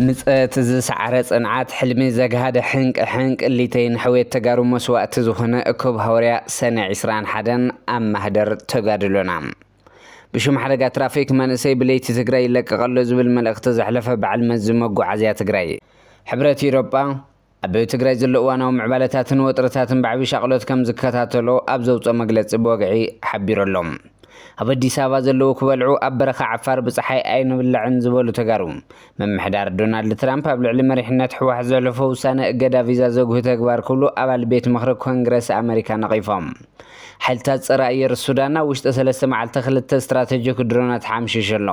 ምጸት ዝሰዓረ ጽንዓት ሕልሚ ዘግሃደ ሕንቅ ሕንቅ ሊተይ ንሕውየት ተጋሩ መስዋእቲ ዝኾነ እኩብ ሃወርያ ሰነ 21 ኣብ ማህደር ተጋድሎና ብሽም ሓደጋ ትራፊክ መንእሰይ ብለይቲ ትግራይ ይለቀቐሎ ዝብል መልእኽቲ ዘሕለፈ በዓል መዚ መጓዓዝያ ትግራይ ሕብረት ኢሮጳ ኣብ ትግራይ ዘሎ እዋናዊ ምዕባለታትን ወጥርታትን ብዓብዪ ሻቕሎት ከም ዝከታተሎ ኣብ ዘውፅኦ መግለፂ ብወግዒ ሓቢሩ ኣሎ። ኣብ ኣዲስ ኣበባ ዘለዉ ክበልዑ ኣብ በረኻ ዓፋር ብፀሓይ ኣይንብላዕን ዝበሉ ተጋሩ፣ ምምሕዳር ዶናልድ ትራምፕ ኣብ ልዕሊ መሪሕነት ህወሓት ዘሕለፎ ውሳነ እገዳ ቪዛ ዘጉሂ ተግባር ክብሉ ኣባል ቤት ምኽሪ ኮንግረስ ኣመሪካ ነቒፎም። ሓይልታት ፀረ ኣየር ሱዳን ኣብ ውሽጢ ሰለስተ መዓልቲ ክልተ ስትራተጂክ ድሮናት ሓምሺሹ ኣሎ።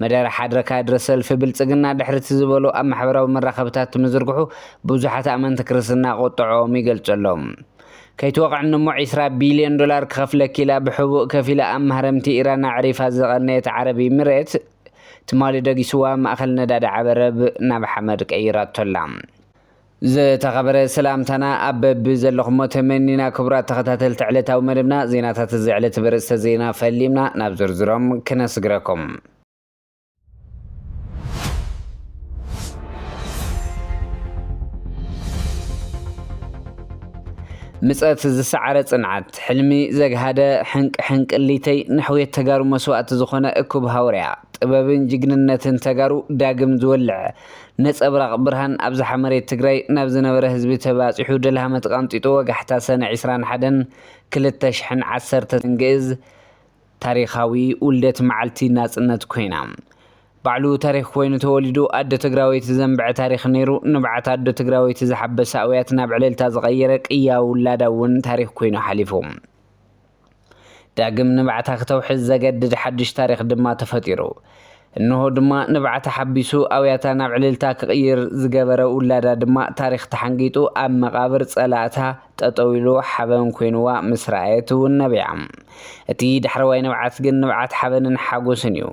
መደረ ሓድረ ካድረ ሰልፊ ብልጽግና ድሕር'ቲ ዝበሎ ኣብ ማሕበራዊ መራኸብታት ምዝርግሑ ብዙሓት ኣመንቲ ክርስትና ቁጠዐኦም ይገልጹ ኣለዉ። ከይትወቕዕኒ'ሞ ዕስራ ቢልዮን ዶላር ክኸፍለኪ ኢላ ብሕቡእ ከፊላ ኣብ ማህረምቲ ኢራን ኣዕሪፋ ዝቐነየት ዓረብ ኢሚሬት ትማሊ ደጊሱዋ ማእከል ነዳዲ ዓበረብ ናብ ሓመድ ቀይራቶ'ላ። ዝተኸበረ ሰላምታና ኣብ በቢ ዘለኹሞ ተመኒና ክቡራት ተኸታተልቲ ዕለታዊ መደብና ዜናታት እዚ ዕለት በርእስተ ዜና ፈሊምና ናብ ዝርዝሮም ክነስግረኩም። ምጸት ዝሰዓረ ጽንዓት ሕልሚ ዘግሃደ ሕንቅ ሕንቅሊተይ ንሕውየት ተጋሩ መስዋእቲ ዝኾነ እኩብ ሃውርያ ጥበብን ጅግንነትን ተጋሩ ዳግም ዝወልዕ ነጸብራቕ ብርሃን ኣብዝሓ መሬት ትግራይ ናብ ዝነበረ ህዝቢ ተባጺሑ ደልሃመ ተቐንጢጡ ወጋሕታ ሰነ ዕስራን ሓደን ክልተ ሽሕን ዓሰርተን ግእዝ ታሪኻዊ ውልደት መዓልቲ ናጽነት ኮይና ባዕሉ ታሪኽ ኮይኑ ተወሊዱ ኣዶ ትግራወይቲ ዘንበዐ ታሪኽ ነይሩ ንብዓት ኣዶ ትግራወይቲ ዝሓበሰ ኣውያት ናብ ዕልልታ ዝቐየረ ቅያ ውላዳ እውን ታሪኽ ኮይኑ ሓሊፉ ዳግም ንብዓታ ክተውሕዝ ዘገድድ ሓድሽ ታሪኽ ድማ ተፈጢሩ። እንሆ ድማ ንብዓታ ሓቢሱ ኣውያታ ናብ ዕልልታ ክቕይር ዝገበረ ውላዳ ድማ ታሪኽ ተሓንጊጡ ኣብ መቓብር ጸላእታ ጠጠው ኢሉ ሓበን ኮይኑዋ ምስ ረኣየት እውን ነቢዓ። እቲ ዳሕረዋይ ንብዓት ግን ንብዓት ሓበንን ሓጎስን እዩ።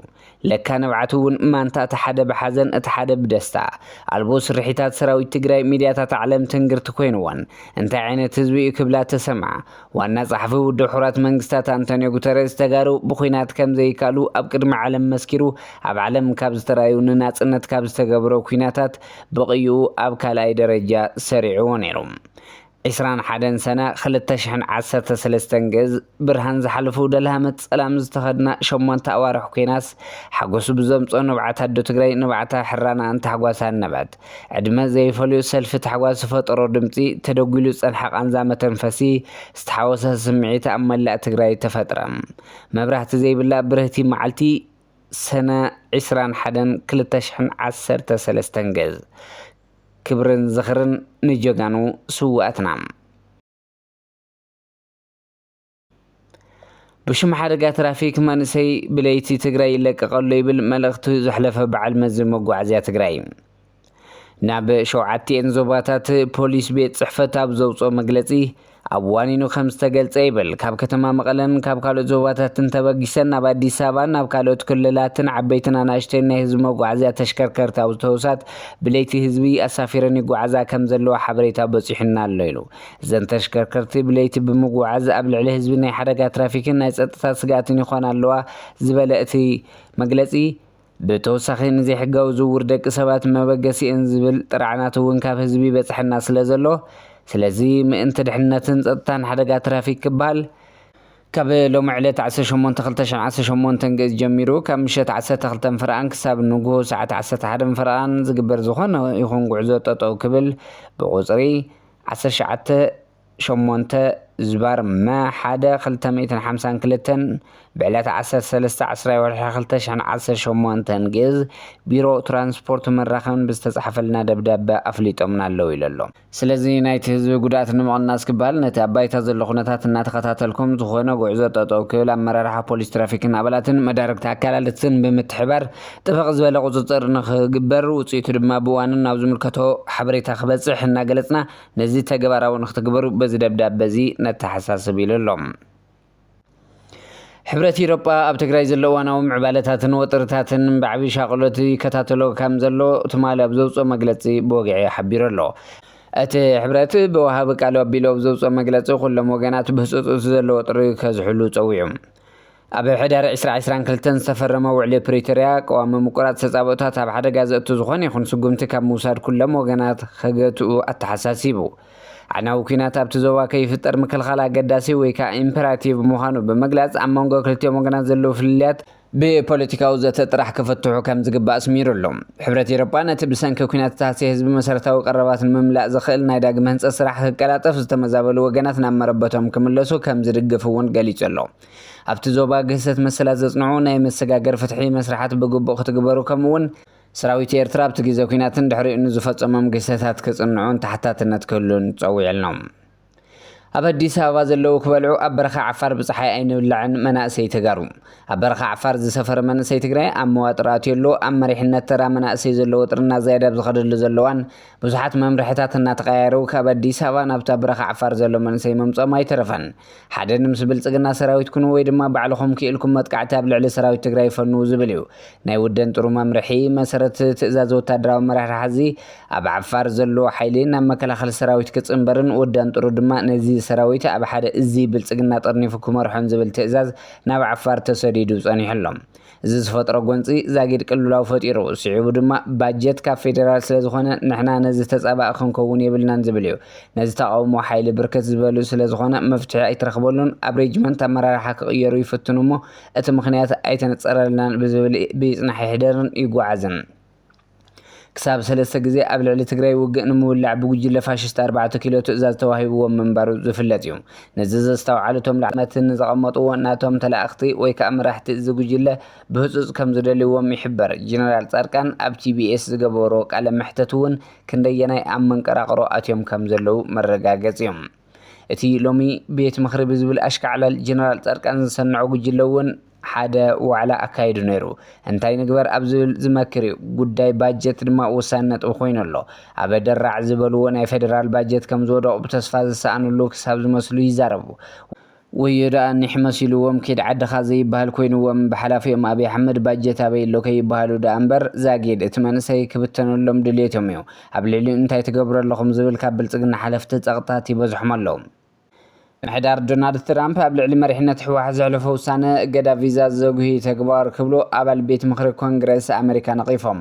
ለካ ንብዓት እውን ማንታ እቲ ሓደ ብሓዘን እቲ ሓደ ብደስታ። ኣልቦ ስርሒታት ሰራዊት ትግራይ ሚድያታት ዓለም ትንግርቲ ኮይንወን። እንታይ ዓይነት ህዝቢ እዩ ክብላ ተሰምዓ። ዋና ጸሓፊ ውድብ ሕቡራት መንግስታት ኣንቶንዮ ጉተረዝ ተጋሩ ብኹናት ከምዘይካኣሉ ኣብ ቅድሚ ዓለም መስኪሩ ኣብ ዓለም ካብ ዝተራዩ ንናጽነት ካብ ዝተገብሮ ኩናታት ብቕይኡ ኣብ ካልኣይ ደረጃ ሰሪዕዎ ነይሩ። ዕስራን ሓደን ሰነ ክልተ ሽሕን ዓሰርተ ሰለስተን ግእዝ ብርሃን ዝሓለፉ ደልሃመት ጸላም ዝተኸድና ሸሞንተ ኣዋርሕ ኩናስ ሓጎሱ ብዘምጾ ንብዓት ኣዶ ትግራይ ንብዓታ ሕራናኣን ታሕጓሳን ነበዐት። ዕድመ ዘይፈልዮ ሰልፊ ታሕጓስ ዝፈጠሮ ድምጺ ተደጒሉ ዝጸንሐ ቃንዛ መተንፈሲ ዝተሓወሰ ስምዒት ኣብ መላእ ትግራይ ተፈጥረ። መብራህቲ ዘይብላ ብርህቲ መዓልቲ፣ ሰነ ዕስራን ሓደን ክልተ ሽሕን ዓሰርተ ሰለስተን ገዝ። ክብርን ዝኽርን ንጀጋኑ ስውኣትና። ብሽም ሓደጋ ትራፊክ መንእሰይ ብለይቲ ትግራይ ይለቀቀሎ ይብል መልእኽቱ ዘሕለፈ በዓል መዚ መጓዓዝያ ትግራይ። ናብ ሸውዓቲኤን ዞባታት ፖሊስ ቤት ጽሕፈት ኣብ ዘውጽኦ መግለጺ ኣብ ዋኒኑ ከም ዝተገልጸ ይብል። ካብ ከተማ መቐለን ካብ ካልኦት ዞባታትን ተበጊሰን ናብ ኣዲስ ኣበባን ናብ ካልኦት ክልላትን ዓበይትን ኣናእሽተይን ናይ ህዝቢ መጓዓዝያ ተሽከርከርቲ ኣውቶቡሳት ብለይቲ ህዝቢ ኣሳፊረን ይጓዓዛ ከም ዘለዋ ሓበሬታ በጺሑና ኣሎ ኢሉ። እዘን ተሽከርከርቲ ብለይቲ ብምጉዓዝ ኣብ ልዕሊ ህዝቢ ናይ ሓደጋ ትራፊክን ናይ ጸጥታ ስግኣትን ይኾና ኣለዋ ዝበለ እቲ መግለጺ፣ ብተወሳኺ ንዘይሕጋዊ ዝውውር ደቂ ሰባት መበገሲ እየን ዝብል ጥርዓናት እውን ካብ ህዝቢ ይበፅሐና ስለዘሎ ስለዚ ምእንቲ ድሕንነትን ፀጥታን ሓደጋ ትራፊክ ክበሃል ካብ ሎሚ ዕለት ዓሰርተ ሸሞንተ ክልተ ሽሕን ዓሰርተ ሸሞንተን ግእዝ ጀሚሩ ካብ ምሸት ዓሰርተ ክልተን ፈረቓን ክሳብ ንጉሆ ሰዓት ዓሰርተ ሓደን ፈረቓን ዝግበር ዝኾነ ይኹን ጉዕዞ ጠጠው ክብል ብቑፅሪ ዓሰርተ ትሽዓተ ሸሞንተ ዝባር መ ሓደ ክልተ ሚእትን ሓምሳን ክልተን ብዕለት ዓሰርተ ሰለስተ ዓስራይ ወርሒ ክልተ ሽሕን ዓሰርተ ሸሞንተን ግእዝ ቢሮ ትራንስፖርትን መራኸብን ብዝተጻሕፈልና ደብዳበ ኣፍሊጦምና ኣለዉ ኢሉ ኣሎ። ስለዚ ናይቲ ህዝቢ ጉድኣት ንምቕናስ ክበሃል ነቲ ኣብ ባይታ ዘሎ ኩነታት እናተኸታተልኩም ዝኾነ ጉዕዞ ጠጠው ክብል ኣመራርሓ ፖሊስ ትራፊክን ኣባላትን መዳርግቲ ኣካላትን ብምትሕብባር ጥብቕ ዝበለ ቁፅፅር ንኽግበር ውፅኢቱ ድማ ብእዋኑ ናብ ዝምልከቶ ሓበሬታ ክበፅሕ እናገለፅና ነዚ ተግባራዊ ንክትግበሩ በዚ ደብዳበ እዚ ነተሓሳስብ ኢሉ ኣሎ። ሕብረት ኢሮጳ ኣብ ትግራይ ዘሎ እዋናዊ ምዕባለታትን ወጥርታትን ብዓብዪ ሻቕሎት ይከታተሎ ከም ዘሎ ትማሊ ኣብ ዘውፅኦ መግለፂ ብወግዒ ሓቢሩ ኣሎ። እቲ ሕብረት ብወሃቢ ቃሉ ኣቢሉ ኣብ ዘውፅኦ መግለፂ ኩሎም ወገናት ብህፁፅ እቲ ዘሎ ወጥሪ ከዝሕሉ ፀዊዑ። ኣብ ሕዳር ዕስራ ዕስራን ክልተን ዝተፈረመ ውዕሊ ፕሪቶርያ፣ ቀዋሚ ምቁራጽ ተጻብኦታት ኣብ ሓደጋ ዘእቱ ዝኾነ ይኹን ስጉምቲ ካብ ምውሳድ ኩሎም ወገናት ከገትኡ ኣተሓሳሲቡ። ኣዕናዊ ኲናት ኣብቲ ዞባ ከይፍጠር ምክልኻል ኣገዳሲ ወይ ከኣ ኢምፐራቲቭ ምዃኑ ብምግላጽ፣ ኣብ መንጎ ክልቲኦም ወገናት ዘለዉ ፍልልያት፣ ብፖለቲካዊ ዘተ ጥራሕ ክፍትሑ ከም ዝግባእ ኣስሚሩሉ። ሕብረት ኤሮጳ፣ ነቲ ብሰንኪ ኲናት ዝተሃስየ ህዝቢ መሰረታዊ ቀረባት ንምምላእ ዘኽእል ናይ ዳግመ ህንጸት ስራሕ ክቀላጠፍ ዝተመዛበሉ ወገናት ናብ መረበቶም ክምለሱ ከም ዝድግፍ እውን ገሊጹ ኣሎ። ኣብቲ ዞባ ግህሰት መሰላት ዘጽንዑ ናይ መሰጋገሪ ፍትሒ መስርሓት ብግቡእ ክትግበሩ ከምኡ'ውን ሰራዊት ኤርትራ ኣብቲ ግዜ ኲናትን ድሕሪኡን ንዝፈጸሞም ግህሰታት ክጽንዑን ተሓታትነት ክህሉን ጸዊዕልኖም። ኣብ ኣዲስ ኣበባ ዘለዉ ክበልዑ ኣብ በረኻ ዓፋር ብጸሓይ ኣይንብላዕን መናእሰይ ተጋሩ ኣብ በረኻ ዓፋር ዝሰፈረ መንእሰይ ትግራይ ኣብ መዋጥር ኣትዩ ኣሎ ኣብ መሪሕነት ተራ መናእሰይ ዘሎ ወጥሪ እናዛየደ ኣብ ዝኸደሉ ዘሎ እዋን ብዙሓት መምርሕታት እናተቐያየሩ ካብ ኣዲስ ኣበባ ናብታ በረኻ ዓፋር ዘሎ መንእሰይ ምምጾም ኣይተረፈን ሓደ ንምስ ብልፅግና ሰራዊት ኩኑ ወይ ድማ ባዕልኹም ክኢልኩም መጥቃዕቲ ኣብ ልዕሊ ሰራዊት ትግራይ ፈንዉ ዝብል እዩ። ናይ ውደን ጥሩ መምርሒ መሰረት ትእዛዝ ወታደራዊ ኣመራርሓ ሐዚ ኣብ ዓፋር ዘሎ ሓይሊ ናብ መከላኸሊ ሰራዊት ክፅንበርን ውደን ጥሩ ድማ ነዚ ሰራዊት ኣብ ሓደ እዝ ብልፅግና ጠርኒፉ ክመርሖን ዝብል ትእዛዝ ናብ ዓፋር ተሰዲዱ ፀኒሑ ኣሎ። እዚ ዝፈጥሮ ጎንፂ ዛጊድ ቅልውላው ፈጢሩ። ስዒቡ ድማ ባጀት ካብ ፌዴራል ስለዝኾነ ንሕና ነዚ ተፃባኢ ክንከውን የብልናን ዝብል እዩ። ነዚ ተቓውሞ ሓይሊ ብርክት ዝበሉ ስለዝኾነ መፍትሒ ኣይተረኽበሉን። ኣብ ሬጅመንት ኣመራርሓ ክቕየሩ ይፍትኑ እሞ እቲ ምኽንያት ኣይተነፀረልናን ብዝብል ብይፅናሕ ይሕደርን ይጓዓዝን። ክሳብ ሰለስተ ግዜ ኣብ ልዕሊ ትግራይ ውግእ ንምውላዕ ብጉጅለ ፋሽስት ኣርባዕተ ኪሎ ትእዛዝ ተዋሂብዎም ምንባሩ ዝፍለጥ ዩ። ነዚ ዘስተውዓሉ እቶም ላዕለዎት መራሕቲ ነቲ ዘቐመጥዎ ናቶም ተላእኽቲ ወይ ከዓ መራሕቲ እዚ ጉጅለ ብህፁፅ ከም ዝደልይዎም ይሕበር። ጀነራል ፃድቃን ኣብ TBS ዝገበሮ ቃለ መሕተት ውን ክንደየናይ ኣብ መንቀራቕሮ ኣትዮም ከም ዘለው መረጋገፂ ዩ። እቲ ሎሚ ቤት ምኽሪ ብዝብል ኣሽካዕላል ጀነራል ፃድቃን ዘሰንዖ ጉጅለ እውን ሓደ ዋዕላ ኣካይዱ ነይሩ። እንታይ ንግበር ኣብ ዝብል ዝመክር እዩ። ጉዳይ ባጀት ድማ ወሳኒ ነጥቢ ኮይኑ ኣሎ። ኣበ ደራዕ ዝበልዎ ናይ ፌደራል ባጀት ከምዝወደቑ ብተስፋ ዝሰኣንሉ ክሳብ ዝመስሉ ይዛረቡ። ወዮ ደኣ ኒሕ መሲልዎም ኪድ ዓድኻ ዘይብሃል ኮይንዎም ብሓላፊኦም ኣብይ ኣሕመድ ባጀት ኣበይ ኣሎ ከይብሃሉ ደኣ እምበር ዛጊድ እቲ መንእሰይ ክብተነሎም ድልየቶም እዩ ኣብ ልዕሊኡ እንታይ ትገብሩ ኣለኹም ዝብል ካብ ብልፅግና ሓለፍቲ ፀቕጥታት ይበዝሖም ኣሎ ምሕዳር ዶናልድ ትራምፕ ኣብ ልዕሊ መሪሕነት ሕወሓት ዘሕለፎ ውሳነ እገዳ ቪዛ ዘጉሂ ተግባር ክብሉ ኣባል ቤት ምኽሪ ኮንግረስ ኣመሪካ ነቒፎም።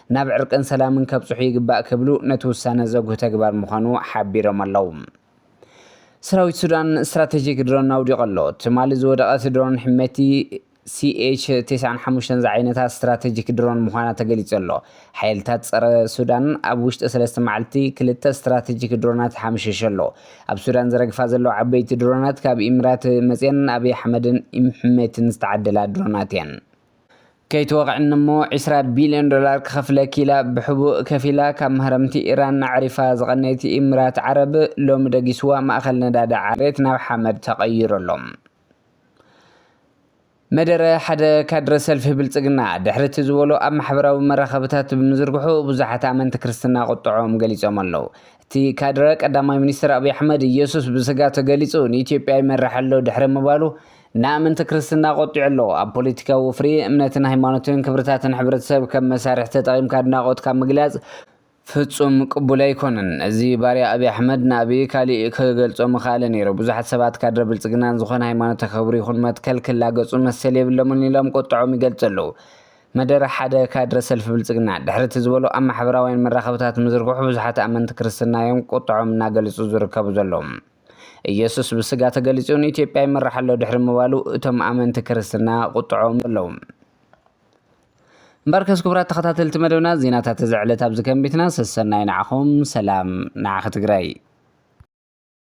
ናብ ዕርቅን ሰላምን ከብፅሑ ይግባእ ክብሉ ነቲ ውሳነ ዘጉህ ተግባር ምዃኑ ሓቢሮም ኣለው። ሰራዊት ሱዳን ስትራተጂክ ድሮን ኣውዲቑ ኣሎ። ትማሊ ዝወደቐት ድሮን ሕሜቲ ሲኤች ተስዓን ሓሙሽተን ዝዓይነታ ስትራተጂክ ድሮን ምዃና ተገሊፁ ኣሎ። ሓይልታት ፀረ ሱዳን ኣብ ውሽጢ ሰለስተ መዓልቲ ክልተ ስትራተጂክ ድሮናት ሓምሺሹ ኣሎ። ኣብ ሱዳን ዝረግፋ ዘለዋ ዓበይቲ ድሮናት ካብ ኢምራት መፅየን ኣብይ ኣሕመድን ኢምሕሜትን ዝተዓደላ ድሮናት እየን። ከይትወቕዕኒ እሞ ዕስራ ቢልዮን ዶላር ክኸፍለኪ ኢላ ብሕቡእ ከፊላ ካብ ማህረምቲ ኢራን ኣዕሪፋ ዝቐነየት ኢምራት ዓረብ፣ ሎሚ ደጊሱዋ ማእከል ነዳዲ ዓሌት ናብ ሓመድ ተቐይሩ ኣሎ። መደረ ሓደ ካድረ ሰልፊ ብልጽግና፣ ድሕሪ እቲ ዝበሎ ኣብ ማሕበራዊ መራኸብታት ብምዝርግሑ ብዙሓት ኣመንቲ ክርስትና ቁጥዐኦም ገሊጾም ኣለዉ። እቲ ካድረ፣ ቀዳማይ ሚኒስተር ኣብይ ኣሕመድ፣ ኢየሱስ ብስጋ ተገሊጹ ንኢትዮጵያ ይመርሕ ኣሎ ድሕሪ ምባሉ፣ ንኣመንቲ ክርስትና ቆጢዑ ኣሎ። ኣብ ፖለቲካዊ ወፍሪ፣ እምነትን ሃይማኖትን ክብርታትን ሕብረተሰብ ከም መሳርሒ ተጠቒምካ ኣድናቖትካ ምግላጽ ፍጹም ቅቡል ኣይኮነን። እዚ ባርያ ኣብይ ኣሕመድ ንኣብይ ካሊእ ክገልጾ ምኸኣለ ነይሩ። ብዙሓት ሰባት ካድረ ብልጽግና ንዝኾነ ሃይማኖት ተኸብሩ ይኹን መትከል ክላገጹ መሰል የብሎምን ኢሎም ቁጥዐኦም ይገልጹ ኣለዉ። መደረ ሓደ ካድረ ሰልፊ ብልጽግና ድሕሪ እቲ ዝበሎ ኣብ ማሕበራውያን መራኸብታት ምዝርግሑ ብዙሓት ኣመንቲ ክርስትና እዮም ቁጥዐኦም እናገለጹ ዝርከቡ ዘለዉ። ኢየሱስ ብስጋ ተገሊጹ ንኢትዮጵያ ይመርሕ ኣሎ ድሕሪ ምባሉ እቶም ኣመንቲ ክርስትና ቁጥዐኦም ኣለዉ። እምበርከስ ክቡራት ተኸታተልቲ መደብና ዜናታት እዚ ዕለት ኣብዚ ከም ቤትና ሰሰናዩ ንዓኹም ሰላም ንዓኺ ትግራይ።